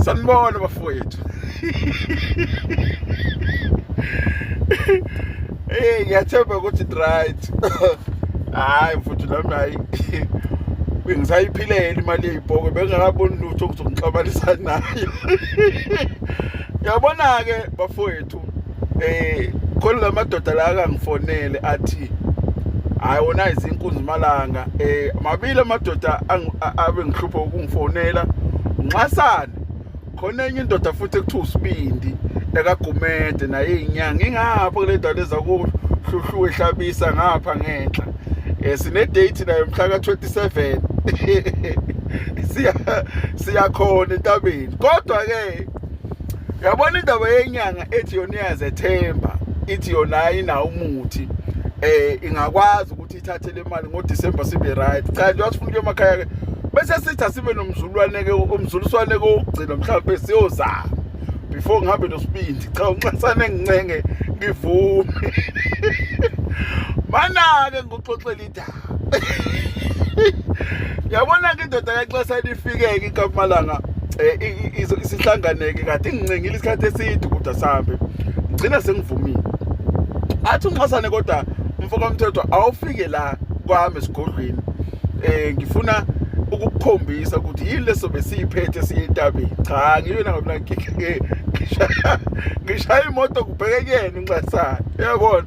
sanibona bafowethu hey ngiyathemba ukuthi it right hayi mfuthu nami hayi bengisayiphilela imali yeyibhoko bengingakaboni lutho ukuthi ngixabanisa nayo yabona-ke bafowethu eh khona lamadoda la akangifonele athi hayi wona izinkunzi malanga eh mabili amadoda abe ngihlupha ukungifonela nxasana khona enye indoda futhi ekuthiwa usibindi ekagumede naye inyanga ingapha kule ndawo ezakuhluhlu ehlabisa ngapha ngenhla eh sine date nayo mhla ka27 siya siyakhona entabeni kodwa ke yabona indaba yenyanga ethi yona iyazethemba ithi yona ayinawo umuthi eh ingakwazi ukuthi ithathe le mali ngoDecember sibe right cha nje wasifuna kuye emakhaya ke bese sithi asibe nomzulwane ke umzuliswane ke ogcina mhlawumbe siyozama before ngihambe nosibindi cha unxasane ngincenge ngivume manake ngoxoxela yabona-ke indoda kaxesana ifike-ke ikamalanga um eh, isihlanganeke kade ingincengile isikhathi eside ukuda sihambe ngigcina sengivumile athi unxasane kodwa mfokomthethwa awufike la kwami esigodlweni um ngifuna ukukukhombisa ukuthi yini leso besiyiphethe siye entabeni cha ngiyona ngoba ngishaya imoto kubheke kuyena unxasane uyabona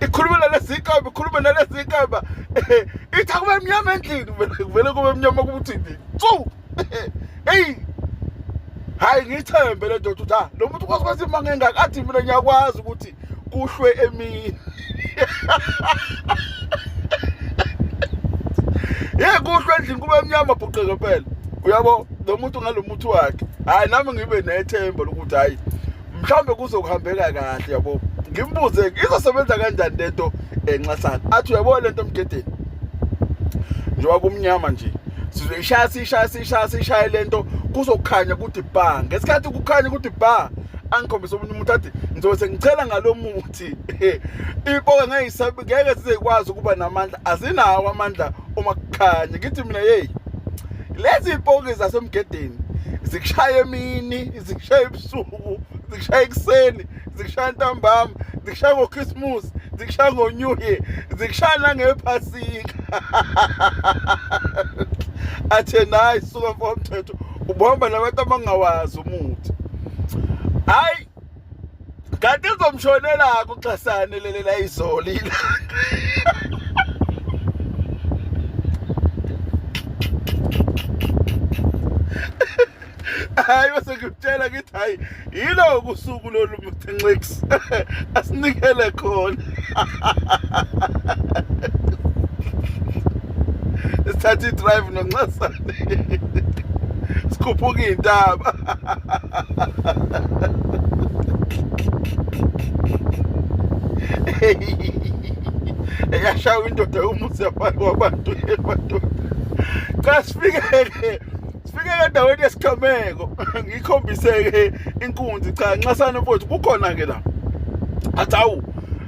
ikhuluma nalezi inkamba ikhuluma nalezi inkamba ithi akube mnyama endlini kuvele kube mnyama kubuthi tsu eyi hhayi ngiyithembe le ndoda ukuthi ha ah, lo muntu ukwazi kwazi imanga engaka athi mina ngiyakwazi ukuthi kuhlwe emini ye kuhlwe endlini kube emnyama bhuqeke phela uyabo lo muntu ngalo muthi wakhe hayi nami ngibe nethemba lokuthi hayi mhlawumbe kuzokuhambeka kahle yabo ngimbuze izosebenza kanjani lento enxasana athi uyabo lento mgedeni njengoba kumnyama nje sizoyishaya siyishaya siyishaya siyishaye lento kuzokhanya ukuthi bha ngesikhathi kukhanya ukuthi bha angikhombise omunye umuntu athi ngizobe sengicela ngalo muthi ipoka ngeke ngeke sizekwazi ukuba namandla azinawo amandla uma kukhanya ngithi mina yeyi lezi ipoki zasemgedeni zikushaya emini zikushaya ebusuku zikushaya ekuseni zikushaya ntambama zikushaya ngochristmas zikushaya ngo-new year zikushaya nangephasika athe nayi suka mfo mthetho ubuhamba nabantu abangawazi umuthi hayi kanti izomshonelako uxhasane leli la izolo ilanga hayi bese ngikutshela ngithi hayi yiloku usuku lolu mthenxix asinikele khona sithatha i-drive nonxasane sikhuphuka iy'ntaba eyashawa indoda umuzi wabantu ebantu cha sifikeke sifike endaweni yesigameko ngikhombiseke inkunzi cha nxasana mfowethu kukhona ke la athi awu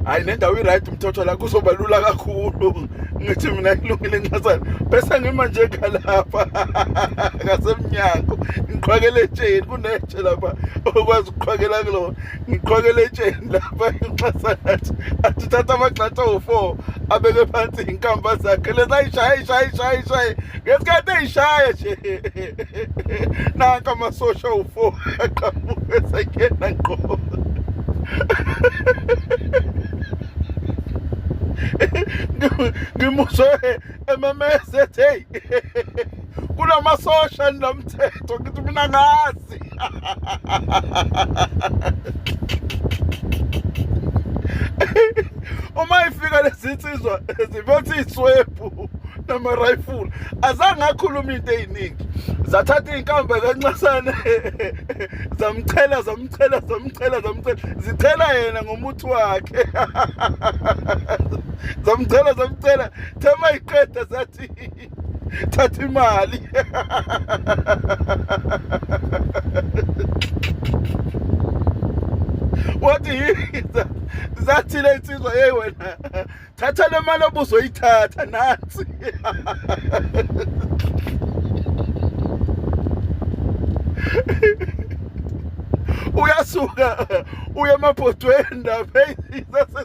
hayi le ndawo i-right mthotho la kuzoba lula kakhulu ngithi mina ilungile nxasana bese ngima nje kalapha ngasemnyango ngiqhwakele etsheni kunetshe lapha okwazi ukuqhwakela kulona ngiqhokele etsheni lapha inxasa nathi athi thatha amagxatha wo-four abeke phansi inkampa zakhe lezi ayishaye ishaye ishaye ishaye ngesikhathi eyishaye nje nanka amasosha wo-four aqhamuke esengena ngqo ngimuzwe ememeza ethi heyi kunamasosha ninomthetho ngithi mina ngazi uma ifika lezinsizwa ziphethe iswebhu nama rifle azange akhuluma into eziningi zathatha inkamba kancasane zamchela zamchela zamchela zamchela zithela yena ngomuthi wakhe zamchela zamchela thema iqeda zathi thatha imali wathi yiza zathile insizwa hey wena thatha le mali obuzoyithatha nathi uyasuka uye emabhodweni lapha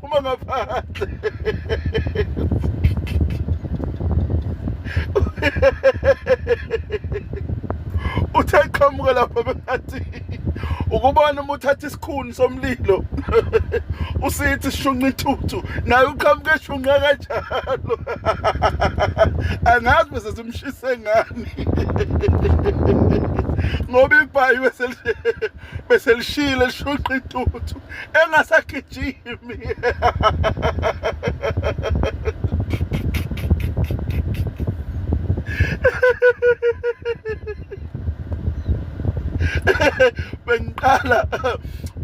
Uma ngaphandle. Uthe qhamuka lapha bengathi ukubona uma uthatha isikhuni somlilo usithi shunqa ithuthu naye uqhamuke shunqa kanjalo angazi bese simshise ngani ngoba ibhayiwe selishele bese lishile lishuqa intuthu engasagijimi bengiqala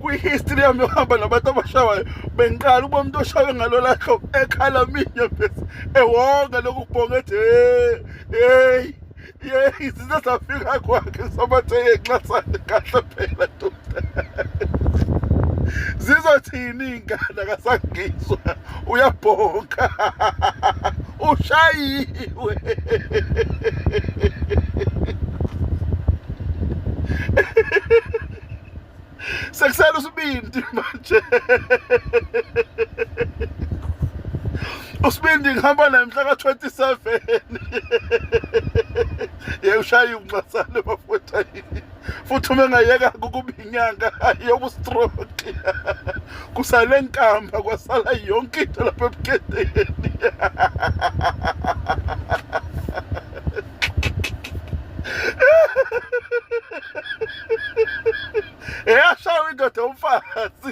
kwi-history yami yohamba nabantu abashawayo bengiqala uba umuntu oshawe ngalola hlobo ekhala minye bese ewonga lokhu kubhonga ethi heyi yeyi zize zafika kwakhe sobathe yenxasane kahle phela doda zizothini iy'ngane akasangizwa uyabhonka ushayiwe sekusela usibindi manje usibindi ngihamba naye mhla ka-27 ye ushaye unxasane bafowethu futhi uma engayeka kukuba inyanga ayoba ustroke kusale nkamba kwasala yonke into lapha ebuketeni eyashawa indoda umfazi